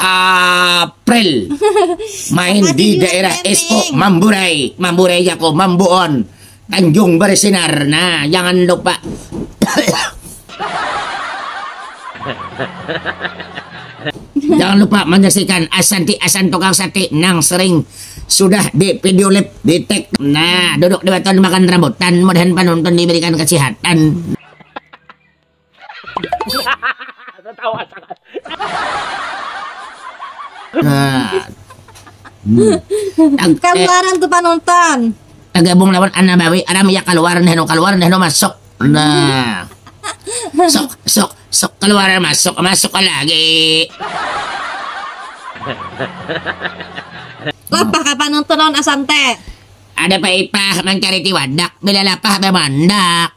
April main di daerah Esko Mamburai, Mamburai Jako, Mambuon, Tanjung Bersinar. Nah, jangan lupa. jangan lupa menyaksikan Asanti Asan Tukang Sate nang sering sudah di video lab di tag. Nah, duduk di batuan makan rambutan, mudahan penonton diberikan kesehatan. Gambaran tu panonton. Tagabung lawan Anna Bawi, Anna Mia kaluar, Neh Nu kaluar, Neh Nu masuk. Nah. Sok, sok, sok kaluar masuk, masuk lagi. Lapah ka panonton lawan Asante. Ada paipah mancariti wadak, bila lapah bamandak.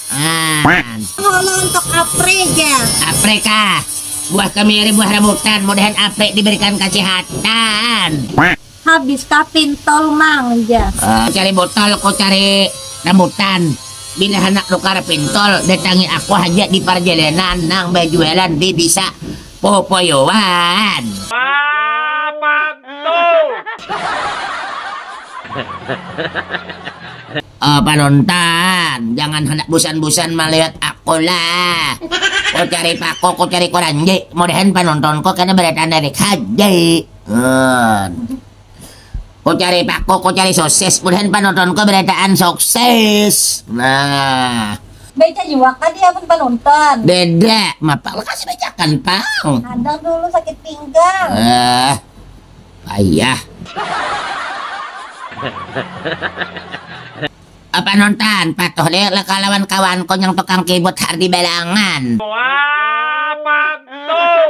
An. Ngomong untuk apre ja. Apre kah? Buah kemiri buah rambutan mudahan apre diberikan kasihatan. Habis kah pintol mang ja. Uh, cari botol ko cari rambutan. Bila handak nukar pintol datangi aku haja di parjalanan nang bajualan di disa popoyoan. Wah, pantu. Oh panonton, jangan handak busan-busan malihat aku lah. Ku cari paku, ku cari kuranji, mudahan panontonku kada badatanarik haja. Hon. Ku cari paku, ku cari sosis, mudahan panontonku badataan soksis. Nah. Baicak jua kah di amun panonton? Beda, mapang lakasi baicakan pang. Kadang dulu sakit pinggang. Eh. Payah. Apa nonton patuh deh leka lawan kawan ku nyang tukang kibut hardi balangan. Wah pantuh.